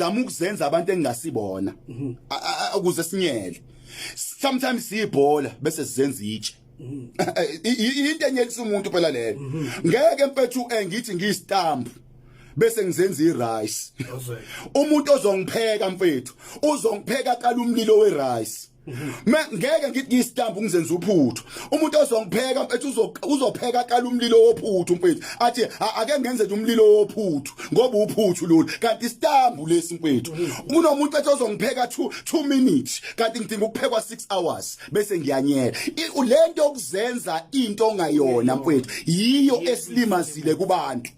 zama ukuzenza abantu engingasibona mhm. ukuze sinyele sometimes siyibhola bese sizenza itshe mhm. into enyelisa umuntu phela leyo mhm. ngeke mfethu engithi ngiyistamp bese ngizenza irice umuntu ozongipheka mfethu uzongipheka kala umlilo werice Me ngeke ngithi ngistamp ungizenza uphuthu. Umuntu ozongipheka mfethu uzopheka kala umlilo wophuthu mfethu. Athi ake ngenze nje umlilo wophuthu ngoba uphuthu lolu. Kanti istamp lesi mfethu. Kunomuntu ethi ozongipheka 2 2 minutes kanti ngidinga ukuphekwa 6 hours bese ngiyanyela. Lento yokuzenza into ongayona mfethu yiyo esilimazile kubantu.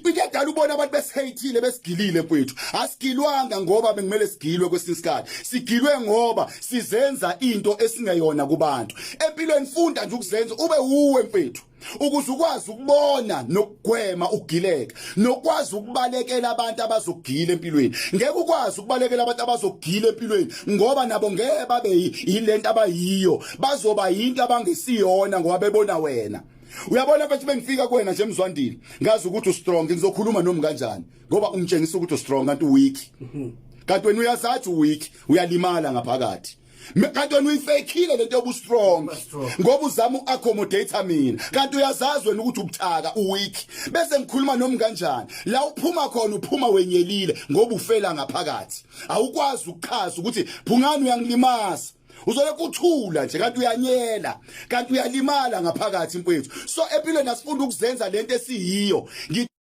Ikadala ubona abantu besihayithile besigilile mfethu. Asigilwanga ngoba bekumele sigilwe kwesinye isikhathi. Sigilwe ngoba sizenza into esingeyona kubantu. Empilweni funda nje ukuzenza ube uwe mfethu. Ukuze ukwazi ukubona nokugwema ukugileka, nokwazi ukubalekela abantu abazogila empilweni. Ngeke ukwazi ukubalekela abantu abazogila empilweni ngoba nabo ngeke babe yilento abayiyo. Bazoba yinto abangesiyona ngoba bebona wena. uyabona bathi bengifika kuwena nje mzwandile ngazi ukuthi u strong ngizokhuluma nomi kanjani ngoba ungitshengisa ukuthi u strong kanti u weak kanti wena uyazathi u weak uyalimala ngaphakathi kanti wena uyifekile lento yobu strong ngoba uzama u accommodate mina kanti uyazazi wena ukuthi ubuthaka u weak bese ngikhuluma nomi kanjani la uphuma khona uphuma wenyelile ngoba ufela ngaphakathi awukwazi ukuchaza ukuthi phungani uyangilimaza uzole kuthula nje kanti uyanyela kanti uyalimala ngaphakathi mfowethu so empilweni asifunda ukuzenza lento esiyiyo